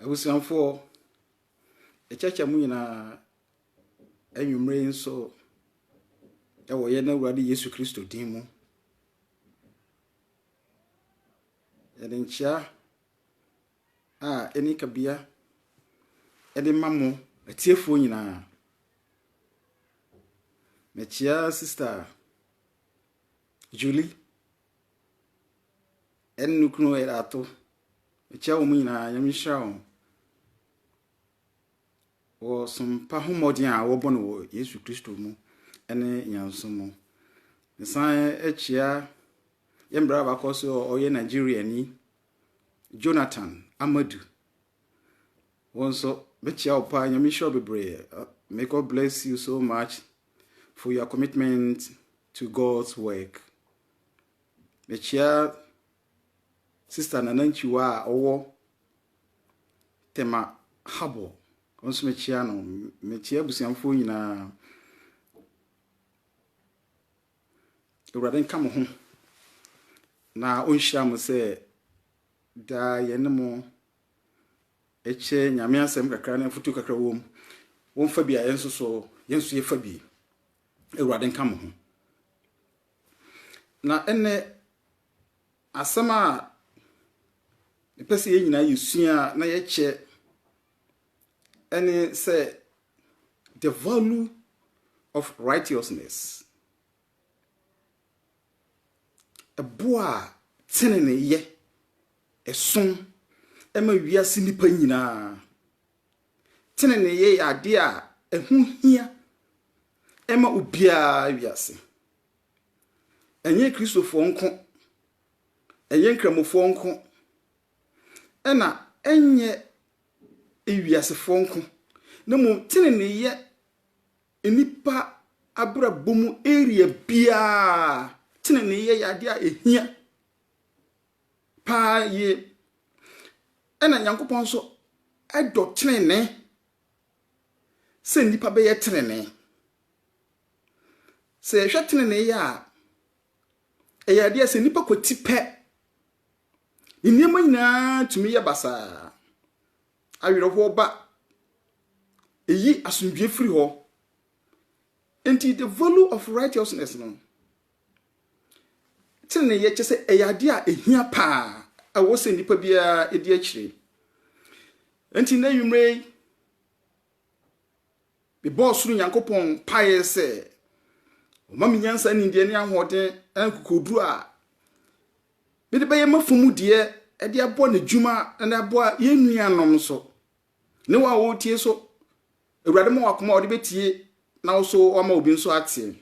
Abusuafoɔ, ɛkyɛkyɛ mo nyinaa anwummerɛ yi nso wɔ yɛn Awurade Yesu Kristo din mu. Yɛde nkyea a ɛnni kabea de ma mo atiefoɔ nyinaa. Mekyea sista Julie ɛne ne kunu Erato. Mekyia wɔn nyinaa, Nyame nhyira wɔn. Wɔ sompa ho mmɔden a wɔbɔ no wɔ Yesu Kristo mu ɛne nyanso mu. Mesan akyia yɛ mmerɛ abakɔ so a ɔyɛ Nigeriani, Jonathan Amadu. Wɔn nso, mekyia wo paa, Nyame nhyira wo bebree. May God bless you so much. for your commitment to God's work. Mekyia Sister Nana Nchiwa a ɔwɔ Tema Harbor. Nso mekyia no. Mekyia abusuafoɔ nyinaa. Awurade nka mo ho na ɔnhyira mo sɛ daa yɛne mo kyerɛ Nyame asɛm kakra na afotuo kakra wɔ mu, wo nfa bi a yɛn nso so, yɛn nso yɛfa bi. Awurade nka mo ho. Na ɛnɛ, asɛm a mepɛ sɛ yɛn nyinaa yɛsua na yɛkyɛ ɛne sɛ the value of righteousness. Ɛboɔ a teneneeyɛ som ma wiase nnipa nyinaa. Teneneeyɛ yɛ adeɛ a ɛho hia ma obiara wɔ wiase. Ɛnyɛ Kristofoɔ nko, ɛnyɛ Nkramofoɔ nko, ɛnna ɛnyɛ ewiasefoɔ nko, na mmom teneneeyɛ Nnipa abrabɔ mu area biara, teneneeyɛ yɛ adeɛ a ɛhia paa yie. Ɛna Nyankopɔn nso dɔ tenenee sɛ nnipa bɛyɛ tenenee. Sɛ yɛhwɛ teneneeyɛ a, ɛyɛ adeɛ a sɛ nnipa kwati pɛ, nneɛma nyinaa tumi yɛ basaa. Awerɛhoɔ ba. Ɛyi asomdwoeɛ firi hɔ. Enti the value of righteousness no, teneneeyɛ kyɛ sɛ ɛyɛ adeɛ a ɛhia paa ɛwɔ sɛ nnipa biara ɛdi akyire. Enti na nwummerɛ yi, Mebɔɔ ɔsoro Nyankopɔn mpaeɛ sɛ ɔmma me nyansa ne nimdeɛ ne ahoɔden ne akokoɔduro a mede bɛyɛ m'afomudeɛ de aboa n'adwuma na de aboa yɛn nuanom nso, ne wɔn a wɔretie nso. Awurade ma wɔ akoma a wɔde bɛtie na wo so wama obi nso ateɛ.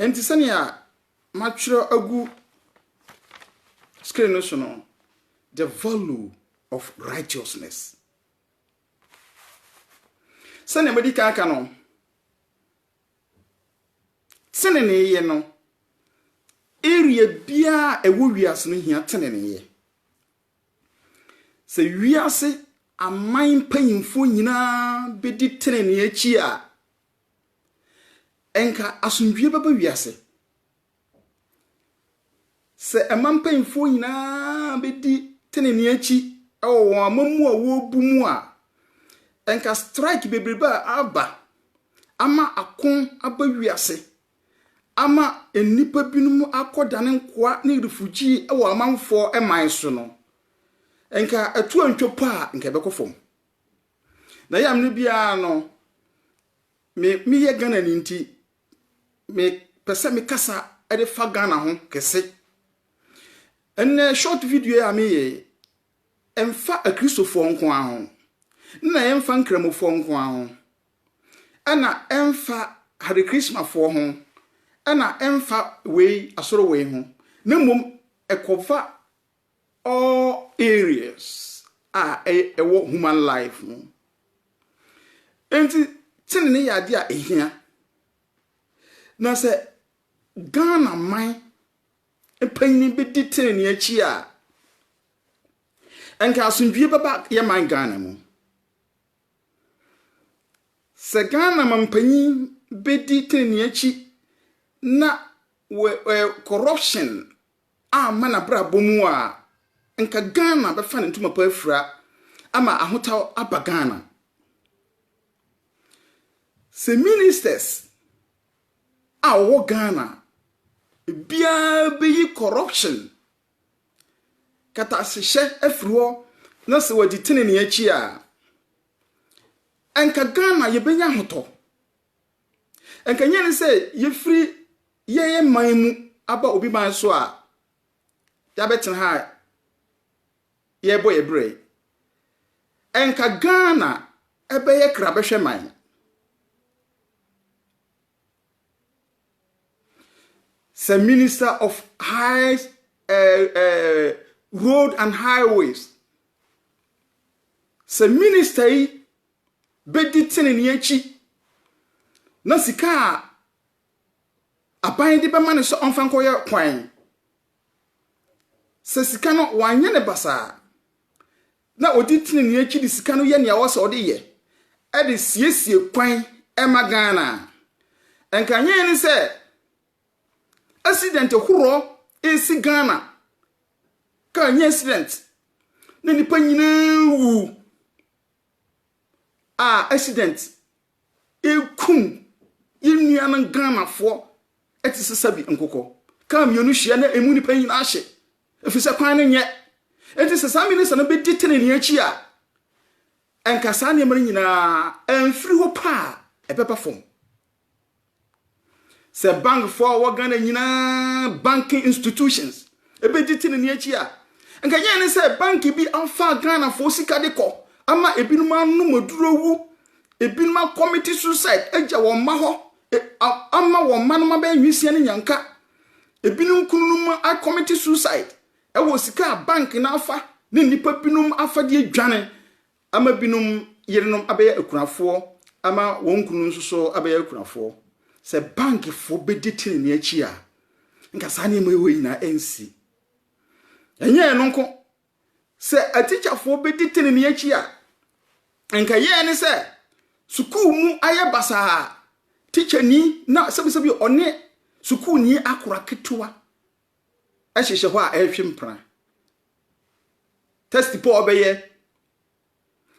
Enti sɛnea matwerɛ agu screen no so no, the value of righteousness. Sɛnea madi kan aka no, teneneeyɛ no, area biara a ɛwɔ wiase no hia teneneeyɛ. Sɛ wiase aman mpanyimfoɔ nyinaa bɛdi tenenee akyi a, Nka asomdwie bɛba wiase sɛ ɛma mpanyimfoɔ nyinaa bɛdi tenenee akyi wɔ wɔn amammuo a wɔrebu mu a. Nka strike bebrebe a aba ama ako aba wiase ama nnipa binom akɔdane nkoa ne refugee wɔ amanfoɔ man so no, nka ɛto antwa po a, nka ɛbɛkɔ fam. Na yam no biara no, me meyɛ Ghanani nti, mepɛ sɛ mekasa de fa Ghana ho kɛse. Ɛnnɛ short video yi a meyɛ yi, ɛmfa Akristofoɔ nko ara ho, na ɛmfa Nkramofoɔ nko ara ho, ɛna ɛmfa Hare Krishnafoɔ ho, ɛna ɛmfa wei asoro wei ho, na mmom ɛkɔfa All areas a ɛwɔ human life mu. Enti tenene yɛ adeɛ a ɛhia. Na sɛ Ghana man mpanyini bɛdi tenene akyi a, nka asomdwie bɛba yɛ man Ghana mu. Sɛ Ghana ma mpanyin bɛdi tenene akyi na corruption amma n'abrabɔ mu a, nka Ghana bɛfa ne ntoma pa afira ama ahotaw aba Ghana. Sɛ ministers a wɔwɔ Ghana biara bɛyi corruption katasehyɛ afiri hɔ na sɛ wɔadi tenenee akyi a, nka Ghana yɛbɛnya ahotɔ. Anka ɛnyɛ ne sɛ yɛfiri yɛn man mu aba obi man so a yɛabɛtena ha a yɛrebɔ yɛ berɛ yi. Anka Ghana ɛbɛyɛ krabɛhwɛ man. Sɛ Minister of High uh, uh, Road and Highways sɛ minister yi bedi trenee akyi, na sika a aban de bɛma no sɛ ɔmfa nkɔyɛ kwan, sɛ sika no wanyɛ ne basaa, na odi trenee akyi de sika no yɛ nea ɔwɔ sɛ ɔde yɛ, ɛde siesie kwan ɛma Ghana. Nkanyɛn ne sɛ accident horoɔ resi Ghana, kaa nyɛ accident, na nnipa nyinaa wu. a accident ekum yɛn nuanom Ghanafoɔ te sɛ sɛbi nkokɔ. Kaa mmienu hyia na emu nipa nyinaa hye, ɛfiri sɛ kwan no nyɛ. Enti sɛ saa minista no bɛdi tenenee akyi a, ɛnka saa nneɛma no nyinaa ɛmfiri hɔ paa ɛbɛba fam. Sɛ bankfoɔ a wɔwɔ Ghana nyinaa, banking institutions, ɛbɛgye tenene akyi a, nka ɛnyɛ ne sɛ bank bi afa Ghanafoɔ sika de kɔ ama ebinom anom aduro wu, ebinom akɔmiti suicide agya wɔn mma hɔ, e, ama wɔn mma nom abɛyɛ nwisiɛ ne nyanka. Ebinom kununom akɔmiti suicide ɛwɔ sika a bank no afa ne nnipa binom afa de adwane Ama binom yerenom abɛyɛ akunafoɔ ama wɔn kununom nso so abɛyɛ akunafoɔ. Sɛ bankfoɔ bɛdi tenenee akyi a, nka saa nneɛma wei nyinaa rensi. Ɛnyɛ ɛno nko, sɛ atikyafoɔ bɛdi tenenee akyi a, nka yɛn ne sɛ sukuu mu ayɛ basaa, tikyani na sɛbisɛbi ɔne sukuuni akora ketewa. hyehyɛ hɔ a ɛrehwe mpena. Test po a ɔbɛyɛ,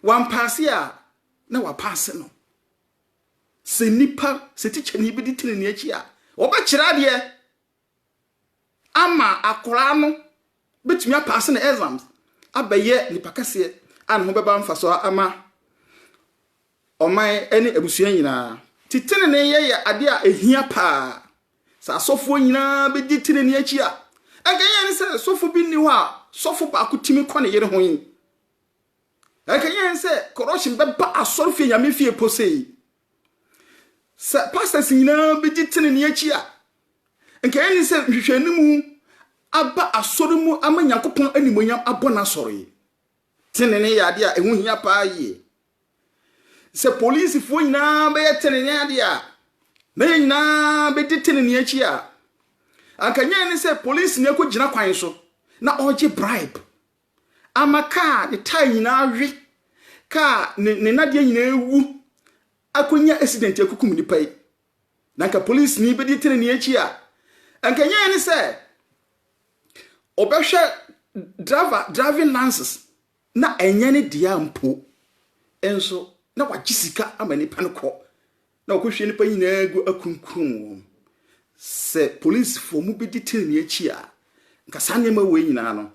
wampaase a na wapaase no. Sɛ nipa, sɛ tikyani bi de tene ne akyi a, wɔbɛkyerɛ adeɛ ama akwaraa no bɛtumi apaase ne exams abɛyɛ nipa kɛseɛ a ne ho bɛba mfasoɔ ama ɔman ne abusua nyinaa. Nti teneneeyɛ yɛ ade a ehia paa. Sɛ asɔfoɔ nyinaa bɛdi tenenee akyi a, ɛnka yɛn ne sɛ sɔfo bi nni hɔ a sɔfo baako tumi kɔ ne yere ho yi. Ɛnka yɛn sɛ corruption bɛba asɔrefie nyame fie po sei. Sɛ pastors nyinaa bɛdi tenenee akyi a, ɛnka yɛn ne sɛ nhwehwɛnimu aba asɔre mu ama Nyankopɔn animonyam abɔ n'asɔre. Tenenee yɛ adeɛ a ɛho hia paa yie. Sɛ polisifoɔ nyinaa bɛyɛ tenenee adeɛ a, na yɛn nyinaa bɛdi tenenee akyi a, anka nyɛ ne sɛ polisini akɔgyina kwan so na ɔregye bribe ama kaa ne tae nyinaa we, kaa ne nnadeɛ nyinaa awu, akɔnya accident akukum nnipa yi. Na anka polisini bɛdi tenenee akyi a, anka ɛnyɛ yɛn ne sɛ ɔbɛhwɛ driver driving license na ɛnyɛ ne dea mpo nso na wagye sika ama nipa no kɔ na ɔkɔhwie nipa nyinaa gu akunkun wɔn. Sɛ polisifoɔ mu bɛdi tenenee akyi a, anka saa nneɛma wei nyinaa no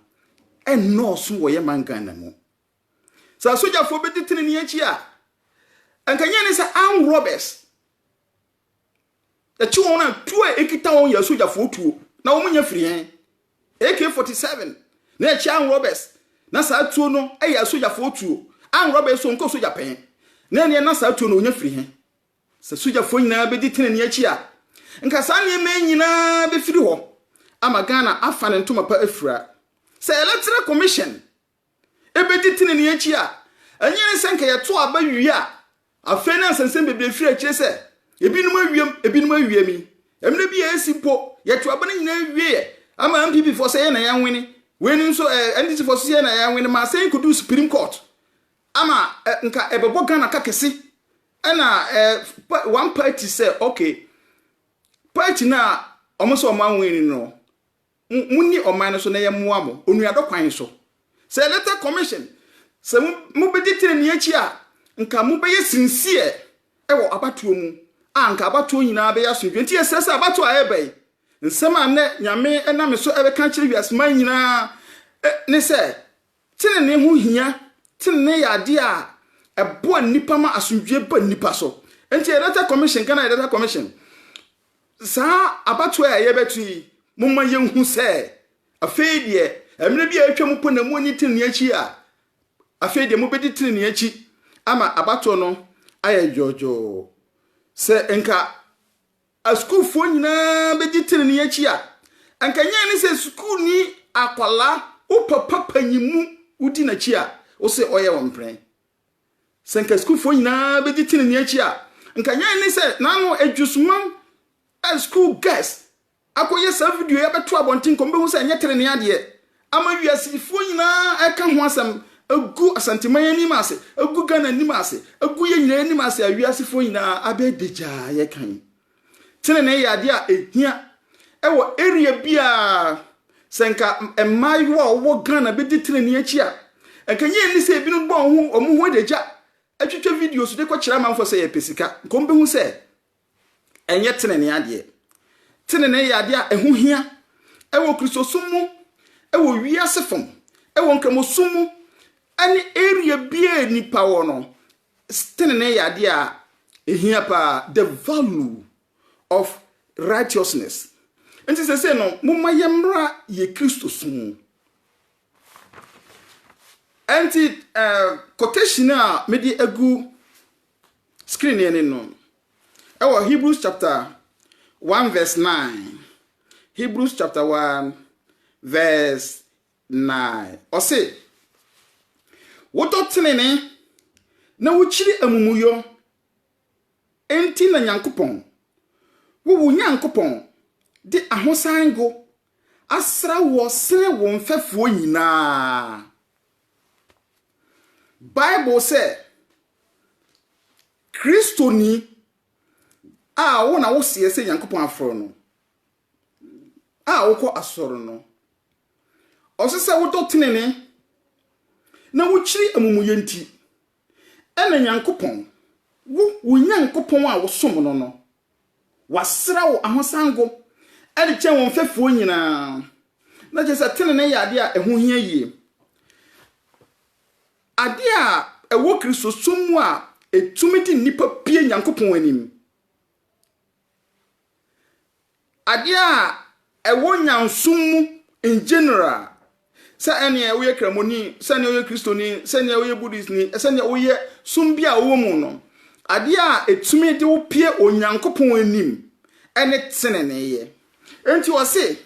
ɛnnɔɔso wɔ yɛ man Ghana mu. Sɛ asogyafoɔ bɛdi tenenee akyi a, anka nyɛ ne sɛ armed robbers ɛkye wɔn a tuo a ɛkita wɔn yɛ asogyafoɔ tuo na wɔn nya firi hɛn AK-47 na ɛkye armed robbers na saa tuo no ɛyɛ asogyafoɔ tuo armed robbers so nkɔ sogya pɛn na ɛneɛ na saa tuo no ɔnya firi hɛn sɛ sogyafoɔ nyinaa bɛdi tenenee akyi a nka saa nneɛma nyinaa bɛfiri hɔ ama Ghana afa ne ntoma pa afira sɛ electoral commission ebedi trenee akyi a, ɛnyɛ ne sɛ anka yɛtow aba wie a afei na nsɛnsɛm bebree firi akyiri sɛ ebinom awiam, ebinom awiam yi. Mmere bi a esi mpo, yɛtow aba no nyinaa wieɛ ama NPP foɔ sɛ yɛn na yɛnwene, wei no nso ɛ, NDC foɔ nso sɛ yɛn na yɛnwene ma asɛm yi koduu Supreme Court ama ɛ, nka ɛbɛbɔ Ghana ka kɛse ɛna ɛ, pa, one party sɛ okay, party no a wɔn sɛ wɔn anwene no, Mo monni ɔman no so na yɛmmoa mo onuadɔ kwan so. Sɛ Electoral Commission, sɛ mo mobɛdi tenenee akyi a, nka mobɛyɛ sincere wɔ abatoɔ mu a nka abatoɔ nyinaa bɛyɛ asomdwoeɛ. Nti yɛsrɛ sɛ abatoɔ a ɛreba yi, nsɛm a nnɛ Nyame nam me so ɛreka akyerɛ wiaseman nyinaa ne sɛ, Tenenee ho hia, tenenee yɛ adeɛ a ɛboa nnipa ma asomdwoeɛ ba nnipa so. Enti Electoral Commission, Ghana Electoral Commission, saa abatoɔ a yɛbɛto yi, momma yɛnhu sɛ afei deɛ mmerɛ bi a atwa mu po na moanni tenenee akyi a, afei deɛ mobɛdi tenenee akyi ama abatoɔ no ayɛ dwoodwoo. Sɛ nka Asukuufoɔ nyinaa bɛgye tenenee akyi a, anka nyɛ ne sɛ sukuuni akwadaa wo papa panyin mu wodi n'akyi a, wose ɔyɛ wo mprɛn. Sɛ anka sukuufoɔ nyinaa bɛgye tenenee akyi a, anka nyɛ ne sɛ na ano adwusumam a school girls akɔyɛ saa video yi abɛto abɔnten kɔ, mobɛhu sɛ ɛnyɛ tenenee adeɛ. ama wiasefoɔ nyinaa ɛka ho asɛm agu asanteman anim ase agu Ghana anim ase agu yɛ nyinaa anim ase a wiasefoɔ nyinaa abɛ dagyaa yɛ kan tenenee yɛ adeɛ a ɛhia ɛwɔ area biara sɛ nka mmaayewa a wɔwɔ Ghana bɛdi tenenee akyi a nka nyɛ ani sɛ ebinom bɔ wɔn ho wɔn ho adagya atwitwa videos de kɔkyerɛ amanfoɔ sɛ yɛpɛ sika nka wɔn bɛhu sɛ ɛnyɛ tenenee adeɛ. Tenenee yɛ adeɛ a ɛho hia wɔ Kristosom mu, wɔ wiase fam, wɔ nkramosom mu, ɛne area bia nipa wɔ no, tenenee yɛ adeɛ a ɛhia paa, the value of righteousness. Nti sɛ sɛ no, momma yɛmmra yɛ Kristosom mu. Nti, uh, quotation a mede agu Screen no ani no. Ɛwɔ Hebrews chapter 1 verse 9. Hebrews chapter 1 verse 9. Ɔse, wodɔ tenene na wokyiri amumuyɔ. Enti na Nyankopɔn, wo wo Nyankopɔn, de ahosan ngo asra woɔ sene wo mfɛfoɔ nyinaa. Bible sɛ, Kristoni a wo na woseɛ sɛ Nyankopɔn afrɛ no, a wokɔ asɔre no, ɔsɛ sɛ wodɔ tenene na wokyiri amumuyɛ nti. Ɛna Nyankopɔn, wo, wo Nyankopɔn a wosom no no, wasra wo ahosango de kyɛn wo mfɛfoɔ nyinaa, na kyerɛ sɛ tenenee yɛ adeɛ a ɛho hia yie. Adeɛ a ɛwɔ Kristosom mu a ɛtumi de nnipa pue Nyankopɔn anim. Adeɛ a ɛwɔ nyansom mu in general, sɛ ɛneɛ woyɛ kramoni, sɛneɛ woyɛ kristoni, sɛneɛ woyɛ buddhistni, sɛneɛ woyɛ som bi a wowɔ mu no, adeɛ a ɛtumi de wo pie Onyankopɔn anim ɛne teneneeyɛ. Enti ɔse,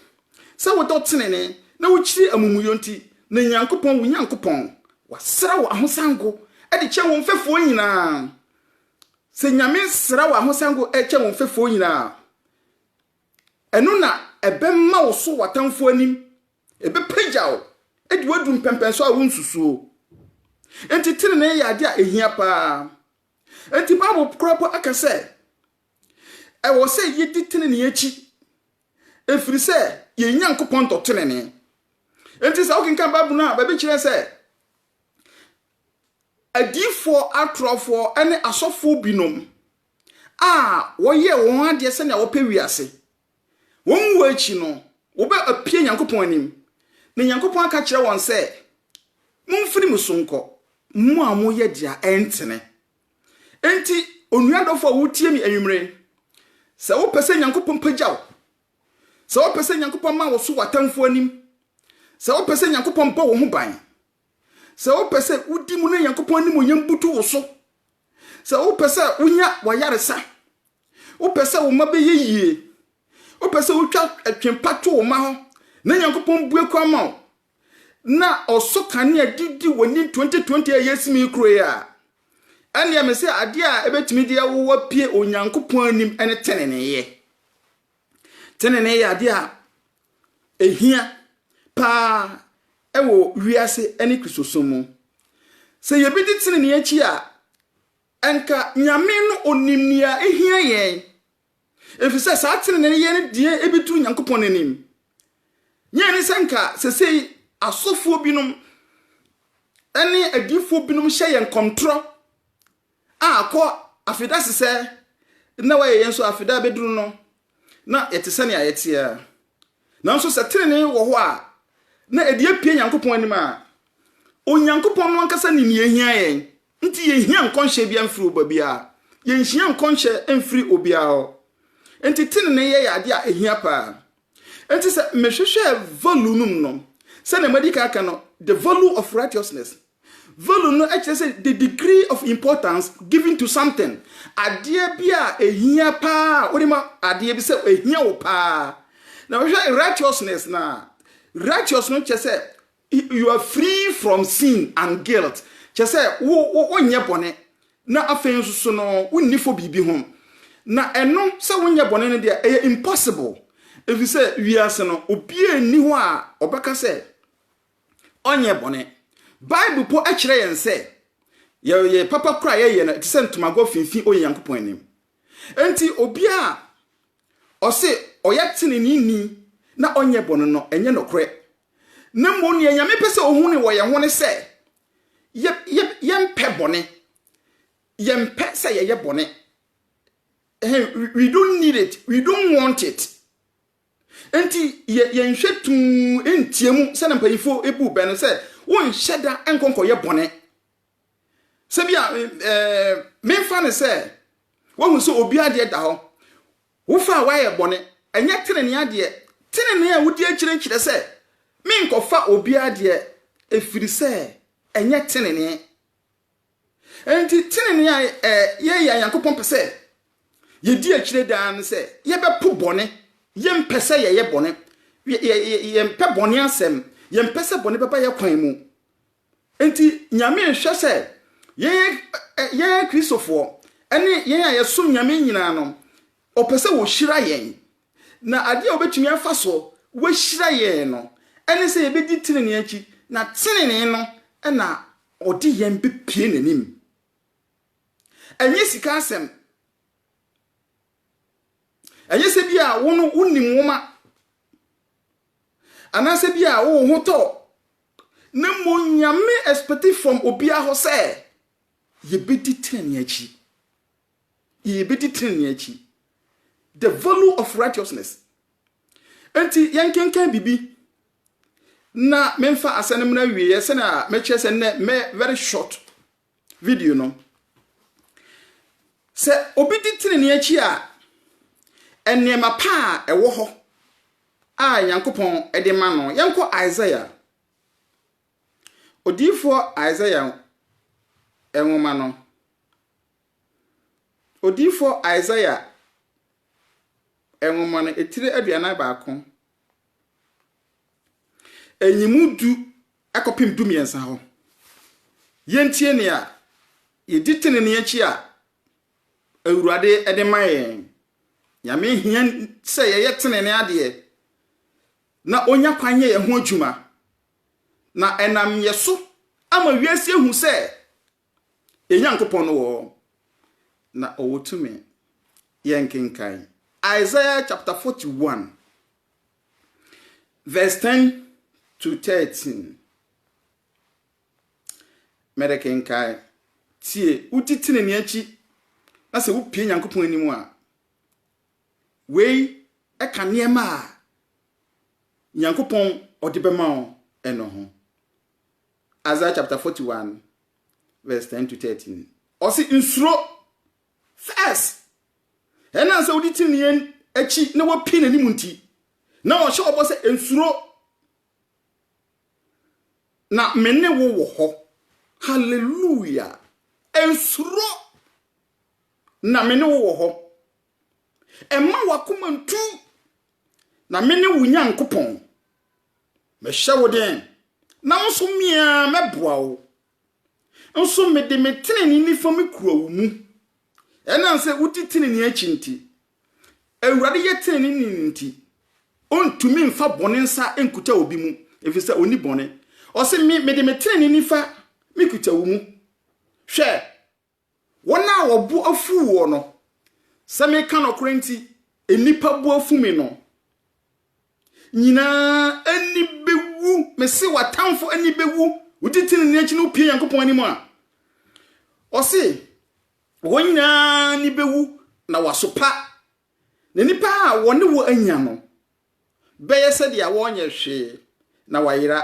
sɛ wodɔ tenenee na wokyiri amumuyɔ nti, na Nyankopɔn, wo Nyankopɔn, wasra wo ahosango de kyɛn wo mfɛfoɔ nyinaa. Sɛ Nyame sra wo ahosango kyɛ wo mfɛfoɔ nyina a, ɛno na ɛbɛma wo so w'atamfoɔ anim, ɛbɛpagya wo de wo adu mpɛmpɛnsoɔ a wonsusuo. Enti tenenee yɛ adeɛ a ɛhia pa ara. Enti Bible koraa mpo aka sɛ, ɛwɔ sɛ yɛdi tenenee akyi, ɛfiri sɛ yɛn Nyankopɔn dɔ tenenee. Enti sɛ wokenkan Bible no a, baabi kyerɛ sɛ, adiyifoɔ atorofoɔ ne asɔfoɔ binom a wɔyɛɛ wɔn adeɛ sɛnea wɔpɛ wiase. Wɔn wuo akyi no, wɔbɛpue Nyankopɔn anim, na Nyankopɔn aka kyerɛ wɔn sɛ, Momfiri me so nkɔ, mo a moyɛ deɛ ɛntene. Enti, onua dɔfo a wotie me anwummere yi, sɛ wopɛ sɛ Nyankopɔn pagya wo, sɛ wopɛ sɛ Nyankopɔn ma wo so wɔ atamfoɔ anim, sɛ wopɛ sɛ Nyankopɔn bɔ wo ho ban, Sɛ wopɛ sɛ wodi mu na Nyankopɔn animuonyam butu wo so, sɛ wopɛ sɛ wonya w'ayaresa, wopɛ sɛ wo mma bɛyɛ yie, wopɛ sɛ wotwa atwempa to wo mma hɔ na Nyankopɔn bue kwan ma wo na ɔsɔ kanea de di w'anim 2020 a yɛsim yi kuro yi a, ɛnneɛ me sɛ adeɛ a ɛbɛtumi de awo wapue Onyankopɔn anim ne teneneeyɛ. Tenenee yɛ adeɛ a ɛhia paa wɔ wiase ne Kristosom mu. Sɛ yɛbɛdi tenenee akyi a, anka Nyame no ɔnim nea ɛhia yɛn, ɛfiri sɛ saa tenenee no yɛ no deɛ ɛbɛduru Nyankopɔn anim. Nyɛ ne sɛ anka sɛsei asɔfoɔ binom ne adiyifoɔ binom hyɛ yɛn kɔntorɔ, a kɔ afeda sesɛ na wayɛ yɛn nso afeda bɛduru no na yɛte sɛnea yɛteɛ. Nanso sɛ tenenee wɔ hɔ a na ɛde apue Nyankopɔn anim a, Onyankopɔn no ankasa nim nea ɛhia yɛn, nti yɛnhia nkɔnhyɛ biara mfiri baabiara, yɛnhia nkɔnhyɛ mfiri obiara hɔ. Enti tenenee yɛ yɛ adeɛ a ɛhia paa. Enti sɛ mehwehwɛ value no mu no, sɛnea madi kan aka no, the value of righteousness, value no kyerɛ sɛ the degree of importance given to something, adeɛ bi a ɛhia paa a wode ma adeɛ bi sɛ ɛhia wo paa. Na wohwɛ righteousness no a, righteous no kyerɛ sɛ You are free from sin and guilt, kyerɛ sɛ wo wo wonyɛ bɔne, na afei nso so no wonni fɔ biribi ho. Na ɛno sɛ wonyɛ bɔne no deɛ ɛyɛ impossible, ɛfiri sɛ wiase no obiara nni hɔ a ɔbɛka sɛ ɔnyɛ bɔne. Bible mpo kyerɛ yɛn sɛ yɛyɛ papa koro a yɛyɛ no ɛte sɛ ntomagɔ finfin Onyankopɔn anim. Enti obiara a ɔse ɔyɛ teneneeni na ɔnyɛ bɔne no, ɛnyɛ nokorɛ. Na mmom deɛ Nyame pɛ sɛ ɔhunu wɔ yɛn ho ne sɛ, yɛ, yɛ, yɛmpɛ bɔne. Yɛmpɛ sɛ yɛyɛ bɔne. Ɛhɛn, we, we don't need it, we don't want it. Enti yɛ, yɛnhwɛ tuu ntia mu sɛdeɛ mpanyinfoɔ bu bɛ no sɛ, wonhyɛ da nkɔ nkɔyɛ bɔne. sɛ bi a memfa no sɛ wohu sɛ obi adeɛ da hɔ wofa a woayɛ bɔne ɛnyɛ tenenee adeɛ tenenee a wodi akyire nkyerɛ sɛ menkɔfa obi adeɛ ɛfiri sɛ ɛnyɛ tenenee ɛnti tenenee a yɛyɛ nyankopɔn pɛ sɛ yɛdi akyire daa no sɛ yɛbɛpo bɔne yɛmpɛ sɛ yɛyɛ bɔne yɛmpɛ bɔne asɛm yɛmpɛ sɛ bɔne bɛba yɛ kwan mu Enti Nyame nhwɛ sɛ yɛn yɛn akristofoɔ ne yɛn a yɛsom Nyame nyinaa no, ɔpɛ sɛ wɔhyira yɛn. Na adeɛ a ɔbɛtumi afa so wahyira yɛn no, ɛne sɛ yɛbɛdi tenenee akyi, na tenenee no na ɔde yɛn bɛpue n'anim. Ɛnyɛ sika asɛm. Ɛnyɛ sɛ bi a wo no wonim nwoma Anaasɛ bia wo ho tɔ wo. Na mmom Nyame expecti from obia hɔ sɛ yɛbɛdi tenenee akyi. Yɛbɛdi tenenee akyi. The value of righteousness. Enti yɛnkenkan bibi na menfa asɛ no mmra awieɛ sɛnea mɛkyerɛ sɛ nnɛ mɛ very short Video no, Sɛ obi di trenee akyi a, nneɛma pa a ɛwɔ hɔ a Nyankopɔn de ma no. Yɛnkɔ Isaiah, odiyifoɔ Isaiah nwoma no. Odiyifoɔ Isaiah nwoma no, etire aduanan baako. Nyimu du kɔpem du mmiɛnsa hɔ. Yɛntie nea yɛdi tenenee akyi a Awurade de ma yɛn. Nyame hia sɛ yɛyɛ tenenee adeɛ na ɔnya kwan yɛ yɛn ho adwuma. Na ɛnam yɛ so ama wiase ahu sɛ Yɛn Nyankopɔn no wɔ hɔ, na ɔwɔ tumi. Yɛnkenkan Isaiah chapter 41, verse 10 to 13. Mede kenkan. Tie, wodi tenenee akyi, na sɛ wopie Nyankopɔn anim a, wei ɛka nneɛma a Nyankopɔn ɔde bɛma wo ɛno ho. Isaiah chapter 41 verse 10 to 13. Ɔse nsuro first. Ɛnam sɛ wodi tenenee akyi na wapie n'anim nti, na ɔhyɛ ɔbɔ sɛ nsuro na me ne wo wɔ hɔ. Hallelujah. Nsuro na me ne wo wɔ hɔ. Ɛma wakoma ntu na me ne wo Nyankopɔn. Mɛhyɛ wo den, na wo nso me ara mɛboa wo, nso mede me tenenee nifa mekura wo mu. Ɛnam sɛ wodi tenenee akyi nti, Awurade yɛ teneneeni nti, ontumi mfa bɔne nsa nkuta obi mu, efisɛ onni bɔne. Ɔse, Me, mede me tenenee nifa mekuta wo mu. Hwɛ! Wɔn a wɔbo afuw woɔ no, sɛ meka nɔkorɛ nti, nnipa bo afu me no nyinaa ani bɛwu, mese w'atamfo ani bɛwu, wodi tenenee akyi na wopue Nyankopɔn anim a, ɔse, wɔn nyinaa ani bɛwu na wɔasopa, na nnipa a wɔne wo anya no bɛyɛ sɛdeɛ wɔnyɛ hwee na wɔayera.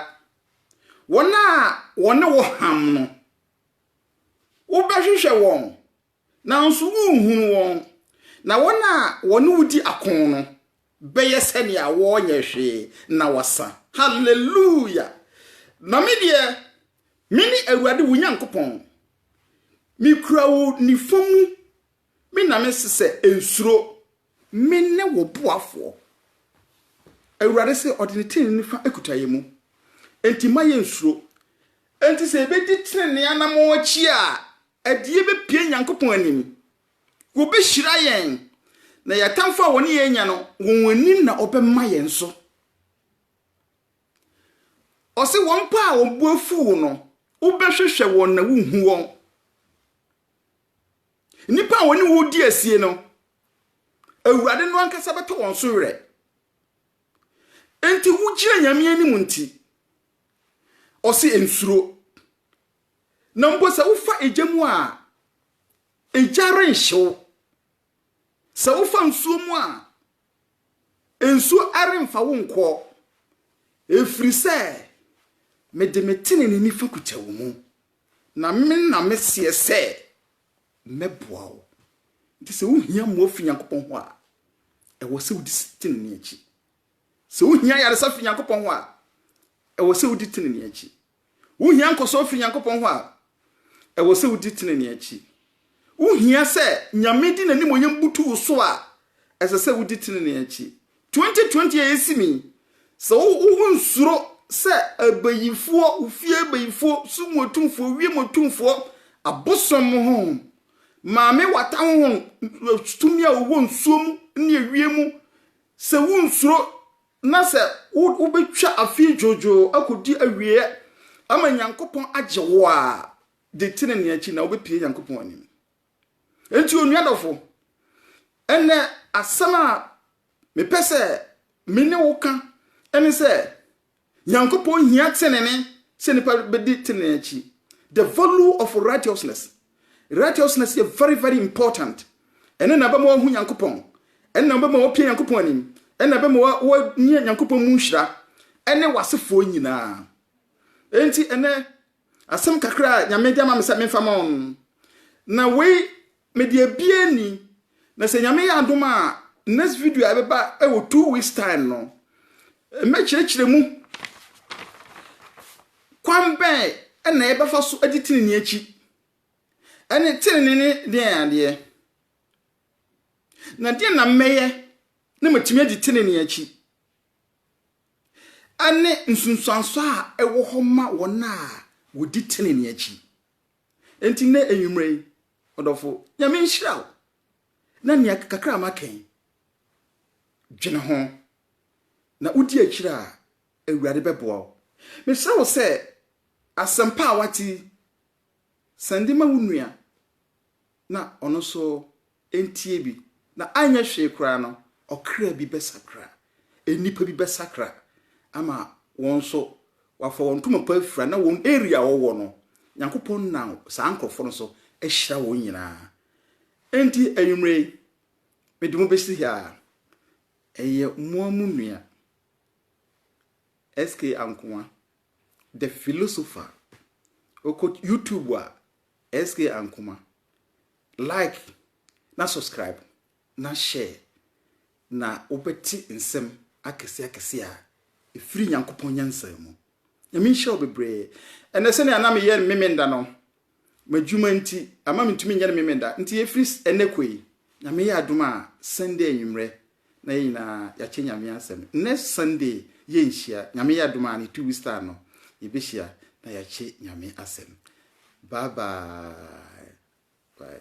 Wɔn a wɔne wo ham no. Wobɛhwehwɛ wɔn, nanso worenhunu wɔn, na wɔn a wɔne wo di ako no bɛyɛ sɛnea wɔrenyɛ hwee na wɔasa. Haleluya! Na me deɛ, mene Awurade wo Nyankopɔn. Mekura wo nifa mu, me na mese sɛ, Nsuro. Mene wo boafoɔ. Awurade se, ɔde ne tenenee nifa akuta yɛn mu, enti mma yɛnnsuro. Enti sɛ yɛbɛdi tenenee anammɔn akyi a, ɛde yɛn bɛpue Nyankopɔn anim. Wɔbɛhyira yɛn, na yɛn atamfo a wɔne yɛn anya no, wɔn anim na wɔbɛma yɛn so. Ɔse, wɔn mpo a wɔn bo afu wo no, wobɛhwehwɛ wɔn na wonhu wɔn. Nnipa a wɔne wo redi asie no, Awurade no ankasa bɛtɔ wɔn so werɛ. Enti wogyina Nyame anim nti, ɔse ensuro. Na mpo sɛ wofa egya mu a, egya renhye wo. Sɛ wofa nsuo mu a, nsuo remfa wo nkɔ. Ɛfiri sɛ mede me tenenee nifa kuta wo mu. Na me na meseɛ sɛ mɛboa wo. Nti sɛ wohia mmoa fi Nyankopɔn hɔ a, ɛwɔ sɛ wodi tenenee akyi. Sɛ wohia yaresa fi Nyankopɔn hɔ a, ɛwɔ sɛ wodi tenenee akyi. Wohia nkɔsoɔ fi Nyankopɔn hɔ a, ɛwɔ sɛ wodi tenenee akyi. Wuhia sɛ Nyame de n'animuonyam butu wo so a, ɛsɛ sɛ wudi trenee akyi. 2020 a esi mu yi, sɛ wonsuro sɛ abayifoɔ, ofie abayifoɔ, sum atumfoɔ, wiem atumfoɔ, abosom honhom, Maame Wata honhom, tumi a ɔwɔ nsuo mu ne ewiem mu, sɛ wonsuro na sɛ wobɛtwa afei dwoodwoo akɔdi awieɛ ama Nyankopɔn agye wo a, Di tenenee akyi na wobɛpue Nyankopɔn anim. Enti onua dɔfo, ɛnnɛ asɛm a mepɛ sɛ me ne wo ka ne sɛ, Nyankopɔn hia tenenee sɛ nipa bɛdi tenenee akyi. The value of righteousness. Righteousness yɛ very very important. Ɛno na ɛbɛma wahu Nyankopɔn. Ɛno na ɛbɛma wapue Nyankopɔn anim. Ɛno na ɛbɛma wanya Nyankopɔn mu nhyira ɛne w'asefoɔ nyinaa. Enti ɛnɛ Asɛm kakra a Nyame de ama me sɛ memfa ma wɔn, na wei mede abie ni, na sɛ Nyame yɛ adom a, next video a ɛbɛba wɔ two weeks time no, mɛkyerɛkyerɛ mu kwan bɛn na yɛbɛfa so adi tenenee akyi, ɛne tenenee ne deɛn adeɛ, na deɛn na mɛyɛ na matumi adi tenenee akyi. ne nsunsuanso a ɛwɔ hɔ ma wɔn a wɔdi tenenee akyi. Enti nnɛ anwumerɛ yi, ɔdɔfo, Nyame nhyira wo, na nea kakra a maka yi, dwene ho, na wodi akyiri a, Awurade bɛboa wo. Mesrɛ wo sɛ, asɛmpa a woate yi, sɛnde ma wo nua, na ɔno nso ntie bi, na anyɛ hwee koraa no, ɔkra bi bɛsakra, nnipa bi bɛsakra ama wɔn nso wɔafa wɔn ntoma pa afira, na wɔn area a wɔwɔ no, Nyankopɔn nam saa nkurɔfoɔ no so ahyira wɔn nyinaa. Enti anwummerɛ yi, mede mo bɛsi ha a, ɛyɛ moa mo nua, SK Ankoa, the philosopher. Wokɔ YouTube a, SK Ankoma, like na subscribe na share na wobɛte nsɛm akɛseɛ akɛseɛ a ɛfiri Nyankopɔn nyansa mu. Nyame nhyira wo bebree. Ɛnɛ sɛnea na meyɛ no Memenda no, m'adwuma nti ama mentumi nyɛ no Memenda. Nti ɛfiri ɛnɛ kɔ yi, Nyame yɛ adom a, Sunday anwummerɛ Na yɛn nyinaa yɛakyɛ Nyame asɛm. Next Sunday yɛnhyia. Nyame yɛ adom a ne two weeks time no yɛbɛhyia na yɛakyɛ Nyame asɛm. Bye bye. Bye.